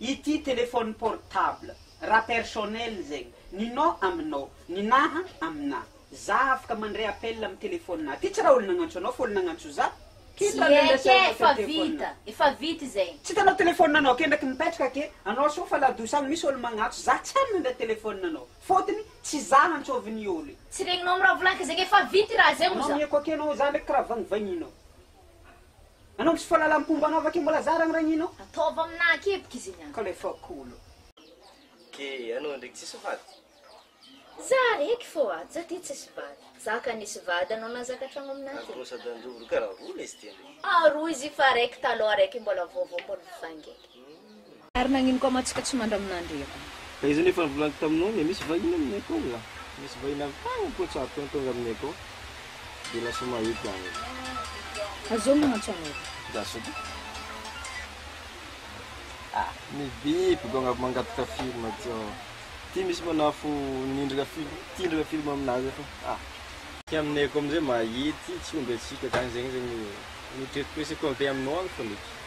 Ity téléphone portable raha personnel zegny ny nao aminao ny naha aminah zah afaka mandray appel amin'ny téléphone nah ty tsy raha olo nagnantso anao fa olo nagnantso zah Tsy eko e, efa vita, efa vita izay. Tsy hitanao téléphone anao ake ndraiky mipetraka ake anao sao fa la douce agny misy olo magnatso zah tsy hany mandray téléphone anao fôtony tsy zah antsôvin'ny olo e. Tsy regninao miravolanka zegny efa vita i raha zay oza. Anao mieko ake anao zah ndraiky karaha vagnivagninao Anao misy fahalalam-pomba anao vakio mbola zara ny ragninao. Ataovy am na akiboka izy iny an. Ka le fakolo. Ke anao ndraiky tsisy vady. Za raiky fô a, za ty tsisy vady. Za ka nisy vady anao nahazaka tragno amina ty. Aroa sady anjovo roa karaha roa lesy ty anao. Aroa izy io fa raiky taloha raiky mbola vaovao mbola mifangeky. Ary nagnino koa ma tsika tsy mandraminandry efa. Ka izany efa novolaniko taminao anie misy vahiny aminay akao nga? Misy vahiny avy tagny Potsarto any tonga aminay akao de lasa maheky agny. Azao no antso anaovako. Za sô ty ah mibiby go agnavy mangataka film ty aho ty misy manafo nindrina film tindrina film aminazy fa ah. Ty aminay akao amizay mahety tsy omby atsika zany zegny zegny no treritrereseko avy aminao agny fôgna eky.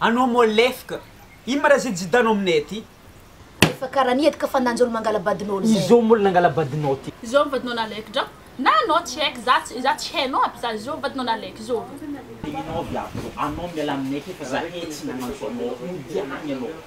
Anao moa lefka. Ino ma ra zay jidanao aminay aty? Efa kara ny edka fa nanjolo mangala badinao lzay. Izao moa nangala badinao ty. Izao ny vadinao nalaiky dra. Na anao tsy haiko za tsy za tsy hainao aby za izao vadinao nalaiky izao. Enao avy ato anao miala aminay aty fa zahay tsy nagnantso anao. Mody any anao.